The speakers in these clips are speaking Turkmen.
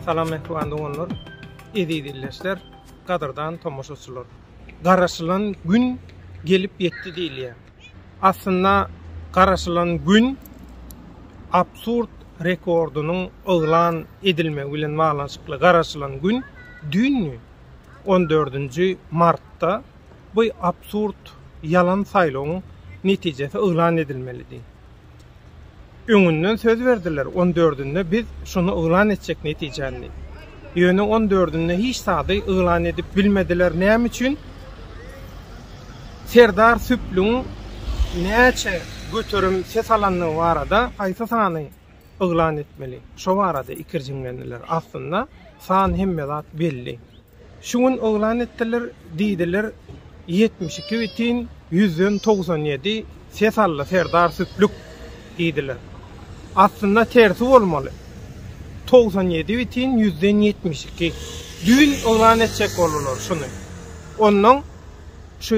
Salam Mehriban doganlar, eziz illeşler, gadyrdan tomaşaçylar. Garaşylan gün gelip ýetdi diýilýär. Aslynda garaşylan gün absurd rekordynyň yglan edilmegi bilen baglanyşykly garaşylan gün düýnü on dördünji martda bu absurd ýalan saýlawyň netijesi yglan edilmelidi. Öňünden söz berdiler, on dördünde biz şuny yglan etjek netijäni. Ýöne on dördünde hiç zady yglan edip bilmediler. Näme üçin? Serdar Süplüň näçe göterim ses alandygy barada haýsy sany yglan etmeli. Şo barada ikirjiňlendiler. Aslynda, san hemme zat belli. Şu gün yglan etdiler, diýdiler, ýetmiş iki bitin ýüzden togsan ýedi ses aldy Serdar Süplük diýdiler. Aslynda tersi bolmaly. Togsan ýedi bitin ýüzden ýetmiş iki. Düýn yglan etjek boldular şuny. Onnoň şu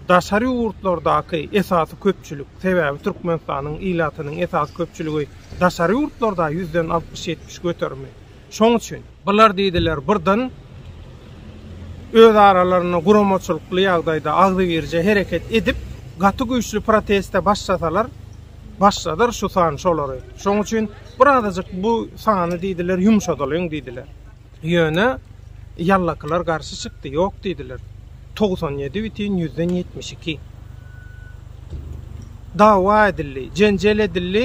Daşary ýurtlardaky esasy köpçülik, sebäbi Türkmenistanyň ilatynyň esasy köpçüligi daşary ýurtlarda, ýüzden altmyş-ýetmiş göterimi. Şoň üçin. Bular diýdiler birden özaralarynda guramaçylykly ýagdaýda agzybirje hereket edip, gaty güýçli proteste başlasalar, başladar şu san şolary. Şoň üçin birazajyk bu sany diýdiler ýumşadalyň diýdiler. Ýöne ýallakylar garşy çykdy, ýok diýdiler. Togsan ýedi bitin ýüzden ýetmiş iki. Dawa edildi, jenjel edildi,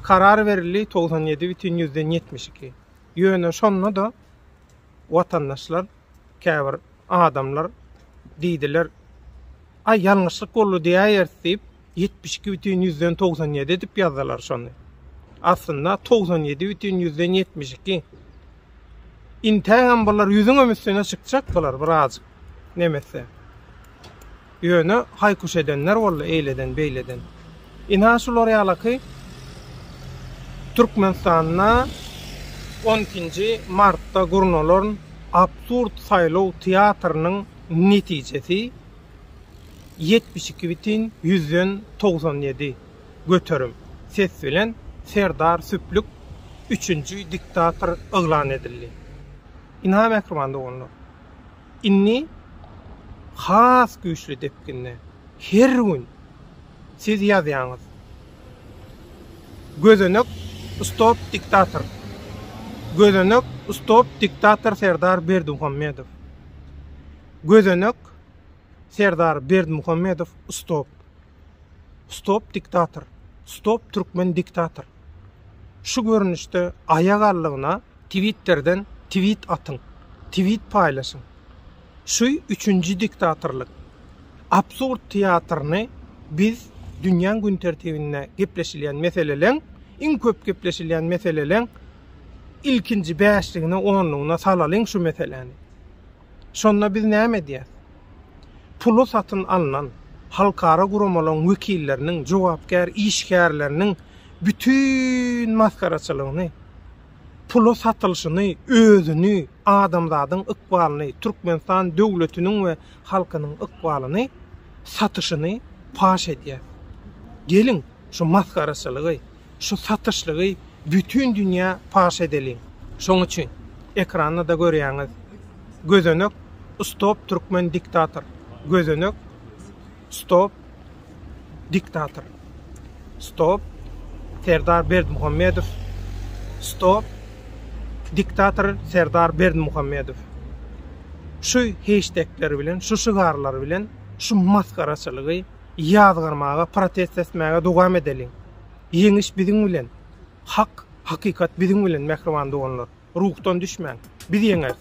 karar berildi, togsan ýedi bitin ýüzden ýetmiş iki. Ýöne şonda-da watandaşlar, käbir adamlar diýdiler, Aý, ýalňyşlyk boldy diýäýeris diýip, Ýetmiş iki bütin ýüzden togsan ýedi edip ýazdylar şony. Aslynda togsan ýedi bütin ýüzden ýetmiş iki. Intäňem bular ýüzüňem üstüne çykjak bular birazjyk nemetse. Ýöne haýkuş edenler boldy eýleden beýleden. Ynha şular ýalaky Türkmenistanda on ikinji martda gurnalan absurd saýlaw teatrynyň netijesi Ýetmiş iki bitin ýüzden togsan ýedi göterim ses bilen Serdar Süplük üçünji diktator yglan edildi. Ynha mähriban doganlar, indi has güýçli depginde her gün siz ýazýaňyz, Gözenek stop diktator, Gözenek stop diktator Serdar Berdimuhamedow, Gözenek Serdar Berdimuhamedow stop. Stop diktator. Stop türkmen diktator. Şu görnüşde aýak aldygyna Twitterden twit atyň. Twit paýlaşyň. Şu üçünji diktatorlyk. Absurd teatryny biz dünýäň gün tertibinde gepleşilýän meseleleň, iň köp gepleşilýän meseleleň ilkinji bäşligine onlugyna salalyň şu meseläni. Şonda biz näme edýäs? Pula satyn alnan halkara guramalaryň wekilleriniň, jogapkär işgärleriniň bütin masgaraçylygyny, pula satylyşyny, özüni, adamzadyň ykbalyny, Türkmenistan döwletiniň we halkynyň ykbalyny satyşyny paş edýäs. Geliň, şu masgaraçylygy, Şu satyşlygy bütin dünýä paş edeliň. Şoň üçin, ekranda-da görýäňiz, gözenek Stop Türkmen Diktator, gözenek Stop Diktator, Stop Serdar Berdimuhamedow, Stop Diktator Serdar Berdimuhamedow. Şu heştegler bilen, şu şygarlar bilen şu masgaraçylygy Ýazgarmaga, protest etmäge dowam edeliň! Ýeňiş biziň bilen! Hak, hakykat biziň bilen, mähriban doganlar! Ruhdan düşmäň! Biz ýeňeris!